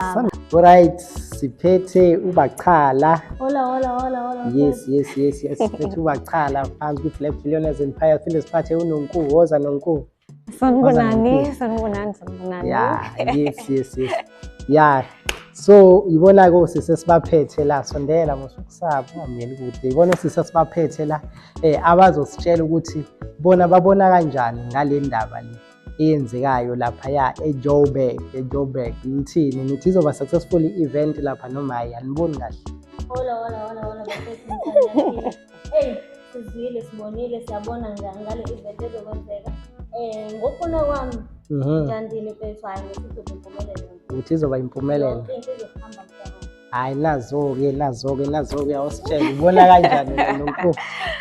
baba Alright, siphethe ubachala. Hola, hola, hola, hola. Yes, yes, yes, yes. Siphethe ubachala phansi kwi Black Billionaires Empire phinde siphathe uNonku, woza Nonku. Sanibonani, sanibonani, sanibonani. Yeah, yes, yes, yes. Yeah. So, yibona ko sise sibaphethe la sondela musukusaba ngameli kude. Yibona sise sibaphethe la eh abazositshela ukuthi bona babona kanjani ngale ndaba le. eyenzekayo laphaya ejoburg ejoburg ngithini nithi izoba successful i-event lapha noma hayi aniboni kahle hola hola hola hola hey sizwile sibonile siyabona ngale event ezokwenzeka eh ngokufuna kwami mhm. ngithandile mfethu hayi ngithi izophumelela uthi izoba impumelelo hayi nazo-ke nazo-ke nazo-ke awusitshela ubona kanjani nonkulu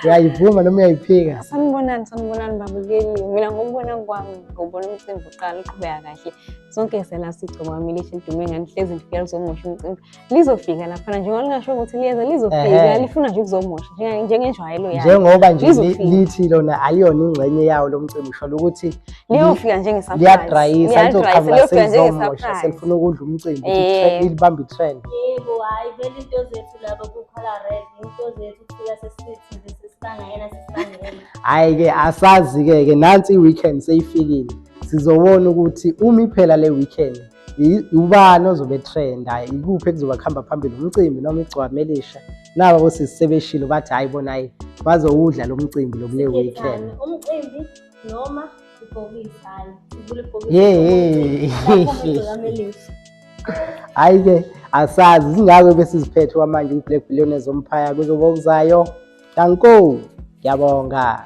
uyayivuma noma uyayiphika sanibonani sanibonani babukeli mina ngokubona kwami ngobona umcimbi uqala uqhubeka kahle sonke sela sigcoba milisha lidume ngani hlezi lifika lizomosha umcimbi lizofika laphana njengoba lingasho ukuthi liyeza lizofika lifuna nje ukuzomosha njengenjwayelo yayo njengoba nje lithi lona aliyona ingxenye yawo lo mcimbi usholo ukuthi liyofika njengesurprise liyadrayisa lizoqhamuka selizomosha selifuna ukudla umcimbi ukuthi libambe itrend yebo hayi vele into zethu laba kukhala red into zethu kufika sesithi nje sesibangayena sesibangayena hayi ke asazi ke ke nansi iweekend seyifikile sizobona ukuthi umi phela le weekend ubani ozobe trend hayi ikuphi ekuzoba kuhamba phambili umcimbi noma igcwame elisha naba bosisi sebeshilo bathi hayi bona hayi bazowudla lo mcimbi lokule weekend umcimbi noma ibhokisi hayi ivula ibhokisi hayi-ke asazi zingako besiziphethe kwamanje kwi-black billionaires ompire kuzoba okuzayo danko ngiyabonga